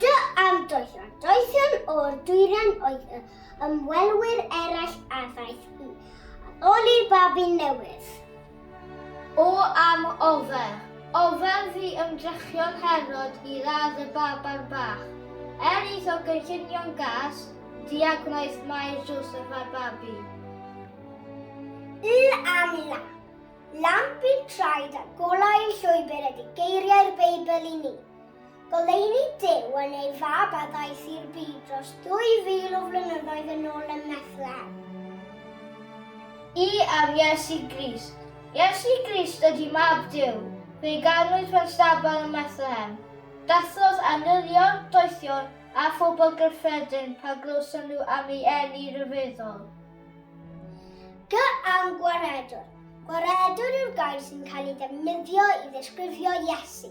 Dy ardoethion, doethion o'r dwyrain oedd y ymwelwyr eraill a ddaeth i addoli'r babi newydd. O am ofer! Ofer fu ymdrechion Herod i ladd y baban bach. Er iddo gynllunio'n gas, diagwnaeth Mair Joseph a'r babi. Y am lamp. Lamp i'r traed a golau i'r llwybr ydy geiriau'r Beibl i ni. Goleuni Duw yn ei Fab a ddaeth i'r byd dros 2,000 o flynyddoedd yn ôl ym Methlehem. I am Iesu Grist. Iesu Grist ydy Mab Duw. Fe'i ganwyd mewn stabal ym Methlehem. Dathlodd angylion, doethion, a phobl gyffredin pan glywson nhw am ei eni ryfeddol. G am Gwaredwr. Gwaredwr yw'r gair sy'n cael ei ddefnyddio i ddisgrifio Iesu.